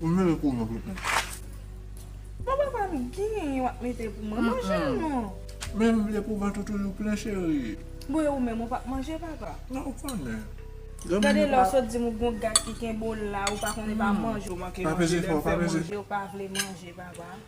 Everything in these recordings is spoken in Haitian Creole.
Ou mele kou non tout moun. Bon papa m gen yon wap mete pou mwen manje non. Men m vle pou vant ou toujou plen cherie. Bon e ou menm ou pap manje papa. Nan ou konnen. Gade lè ou sot di m ou gon gad ki kenbe w la ou pa konnen pa manje ou manke manje lè m fè manje ou pa vle manje papa.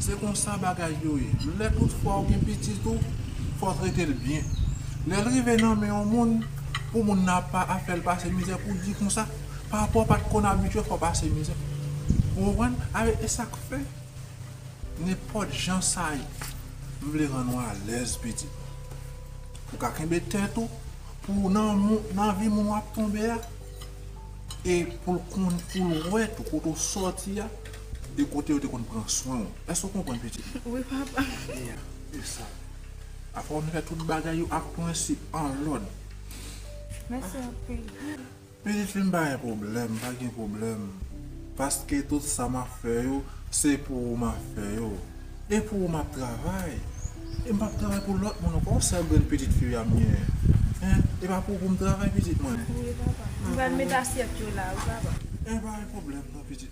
Se konsa bagay yo ye. Lè tout fwa ou gen pitit ou, fò w trete l byen. Lè l rive nan men yon moun, pou moun nan ap pa ap fè l pase mizè pou w di konsa, papa w pa t konn abitye fè w pase mizè. Ou konprann? Alè e sa k fè, nenpòt jan sa ye, m vle rann ou alèz pitit. Ou ka kenbe tèt ou pou w nan moun, nan vi moun w ap tonbe a e pou l konn, pou l wè tou kote w soti a. De kote yo te konn pran swen w. Èske w konprann pitit mwen? Wi, papa. Gade a, e sa. Apre w fin fè tout bagay yo ak prensip, an lòd. Mèsi anpil. Pitit fi m, pa gen pwoblèm, pa gen pwoblèm. Paske tout sa m ap fè yo, se pou ou m ap fè yo. E pou ou m ap travay. E m pap travay pou lòt moun ankò. Yon sèl grenn pitit fi a m genyen. Hein? E pa pou ou pou m travay, pitit mwen? Wi, papa. M pral met asyèt yo la, wi, papa. E pa gen pwoblèm non, pitit mwen.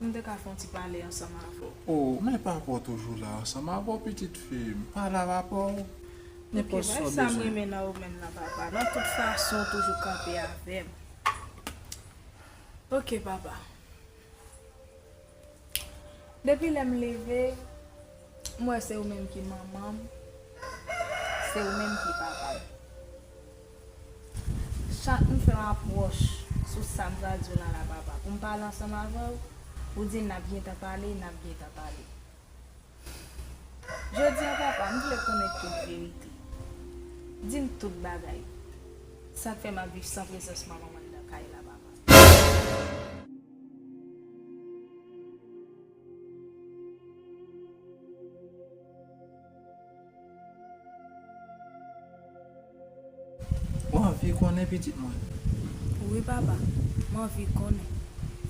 Pou m te ka fè yon ti pale ansanm avè w. O, men papa w toujou la ansanm avè w pitit fi m. Pale a papa w. Nenpòt sa w bezwen. Oke, bay sa m renmen nan ou menm nan papa. Nan tout fason w toujou kanpe avè m. Oke papa. Depi lè m leve, m wè se ou menm ki manman m. Se ou menm ki papa m. Chak nou fè yon apwòch sou sa m pral di w lan la papa, pou m pale ansanm avè w, ou di n ap gentan pale, n ap gentan pale. Jodi an papa, m vle konnen tout verite. Di m tout bagay. Sa k fè m ap viv san prezans manman m anndan kay la papa. Ou anvi konnen pitit mwen? Wi papa, m anvi konnen.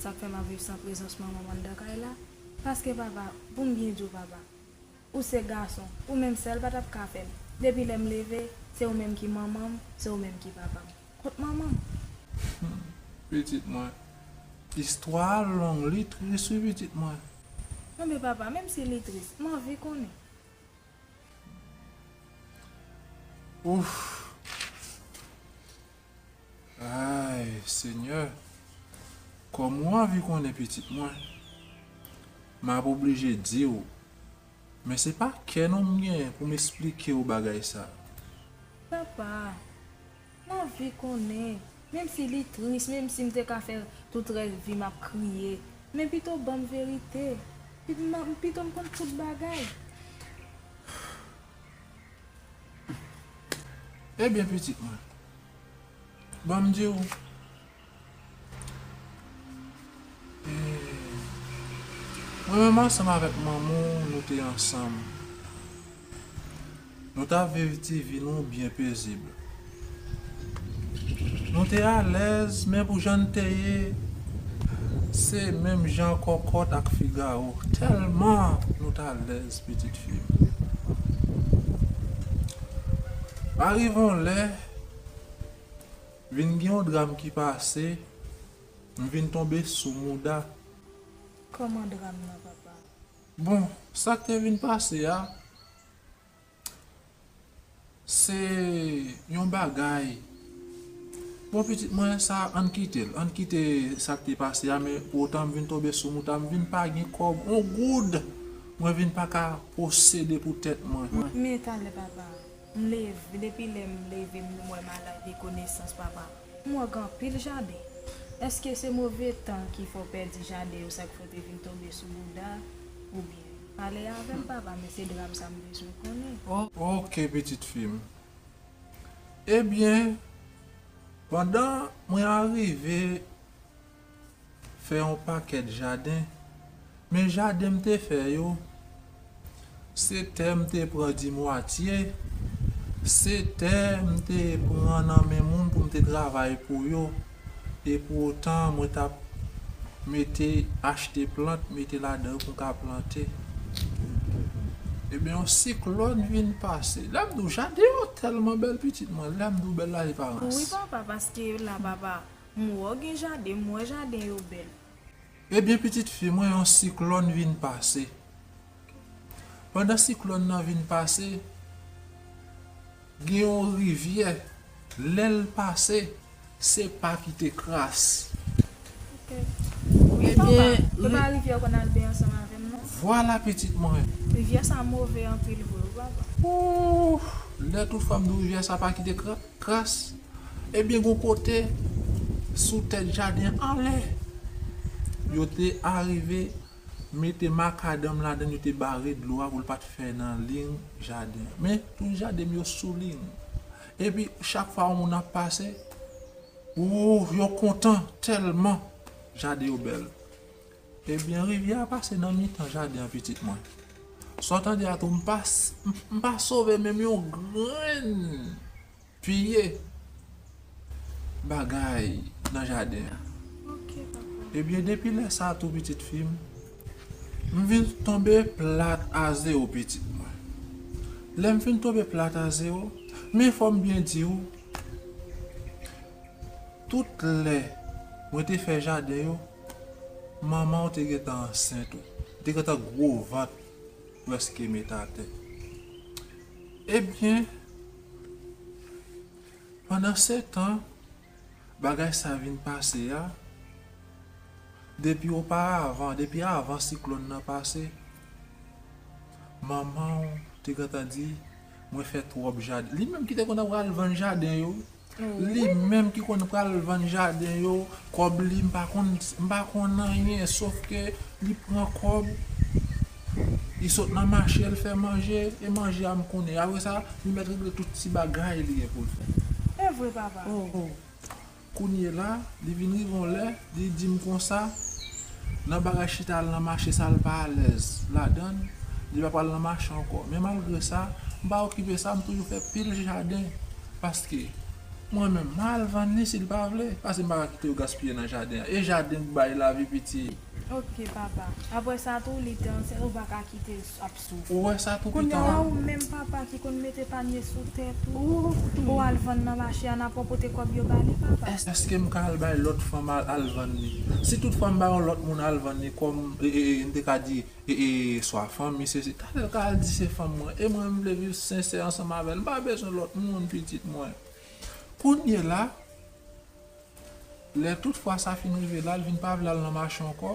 Sa k fè m ap viv san prezans manman m anndan kay la? Paske papa, pou m byen di w papa, ou se gason, ou menm sèl pa t ap ka fè l. Depi lè m leve, se ou menm ki manman m, se ou menm ki papa m. Kot manman m? Humm pitit mwen. Istwa a long li tris wi pitit mwen. Anben papa menm si li tris m anvi konnen. Ouff Ayy senyè Kòm ou anvi konnen pitit mwen m ap oblije di w. Men se pa kè non m genyen pou m esplike w bagay sa a. Papa, m anvi konnen, menm si li tris, menm si m te ka fè tout rès vi m ap kriye, men pito ban m verite. Pito m konn tout bagay. Ebyen pitit mwen, ban m di w. Mwen menm ansanm avèk manman w nou te ansanm. Nou t ap viv ti vi nou byen pezib. Nou te alèz men pou jan n te ye se menm jan kòkòt ak figawo tèlman nou t alèz pitit fi m. Arive yon lè. Vin gen yon dram ki pase. M vin tonbe sou mouda. Kòman dram nan papa? Bon, sa k te vin pase a, se yon bagay. Bon pitit mwen, sa ann kite l. Ann kite sa k te pase a men pou otan m vin tonbe sou mouda. M vin pa gen kòb. On goud mwen vin pa ka posede pou tèt mwen. Men talè papa. M leve, depi lè m leve m wè ma lay de konesans papa. M wè gen anpil jaden. Eske se move tan ki fè w pèdi jaden yo sa ki fè w te vin tonbe sou bouda oubyen? Pale avè m papa men se dram sa m bezwen konnen. Ok pitit fi m. Ebyen pandan mwen arive. fè yon pakèt jaden, men jaden m te fè yo, se tè m te pran dimwatye, se tè m te pran nan men moun pou m te travay pou yo, epoutan mwen t ap mete achte plant mete ladan yo pou m ka plante. Ebyen yon siklòn vin pase, lè m di w jaden yo tèlman bèl pitit mwen, lè m di w bèl la se pa manti. M wè w gen jaden, m wè jaden yo bèl. Ebyen pitit fi mwen yon siklòn vin pase. Pandan siklòn nan vin pase, gen yon rivyè, lè l pase, se pa ki te kras. Wi papa, se pa rivyè w konn al benyen ansanm avè m non. Vwala pitit mwen. Rivyè sa move anpil vre wi papa. Ooh! Lè tou fèm di w rivyè sa pa ki te kras. Kras, Ebyen gon kote sou tèt jaden anlè yo te arive mete makadanm ladann yo te bare dlo a pou l pa t fè nan ling jaden an. Men tout jaden yo sou ling. Epi chak fwa yon moun ap pase, wouuh yo kontan tèlman jaden yo bèl. Ebyen rivyè a pase nan mitan jaden an pitit mwen. Sa w tande a tou m pa m pa sove menm yon grenn pye bagay nan jaden an. Ebyen depi lè sa tou pitit fi m, m vin tonbe plat a zewo pitit mwen. Lè m fin tonbe plat a zewo, men fò m byen di w tout lè mwen te fè jaden yo, Manmanw te gentan ansent ou te gentan gro vant preske met atè ebyen pandan setan bagay sa vin pase a depi oparavan depi avan siklòn nan pase manmanw te gentan di mwen fè tròp jaden li menm ki te konn ap vann jaden yo. Li menm ki konn pral vann jaden yo kòb li m pa konn m pa konn anyen sof ke li pran kòb li sot nan mache li fè manje e manje a m konnen apre sa li mèt regle tout ti bagay li gen pou l fè. Evre papa. Kounye la li vin rive yon lè li di m konsa nan bagay chita al nan mache sa l pa alèz ladan l li pa pral nan mache ankò men malgre sa m pa okipe sa m toujou fè pil jaden. Paske Mwen menm ma al vann li sil pa vle pase m paka kite yo gaspiye nan jaden an e jaden k bay lavi piti. Ok papa aprè sa tou li te ansent ou paka kitel ap soufri Ou wè sa tou pitan an. Kounya la ou menm papa ki konn mete panye sou tèt ou pou w al vann nan mache an aprè w pote kòb yo ba li papa. Eske m ka al bay lòt fanm al vann li si tout fwa m bay yon lòt moun al vann li kòm m te ka di E swa fanmi se si. Talè l ka al di se fanm mwen. E mwen m vle viv sensè ansanm avè l. M pa bezwen lòt moun pitit mwen. Kounyela, lè tout fwa sa fin rive la, l vin pa vle al nan mache ankò,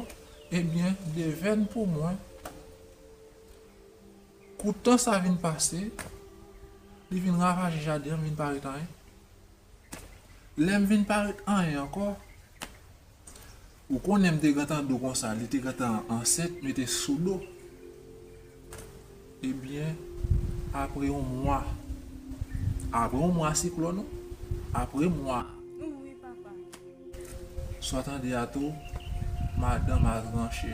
ebyen devèn pou mwen, kou tan sa vin pase, li vin ravaje jaden an, m vin pa ret anyen. Lè m vin pa ret anyen ankò. Ou konnen m te gentan di w konsa li te gentan ansent mete sou do ebyen apre yon mwa apre yon mwa siklòn ou apre mwa sa w tande a tou madanm al tranche.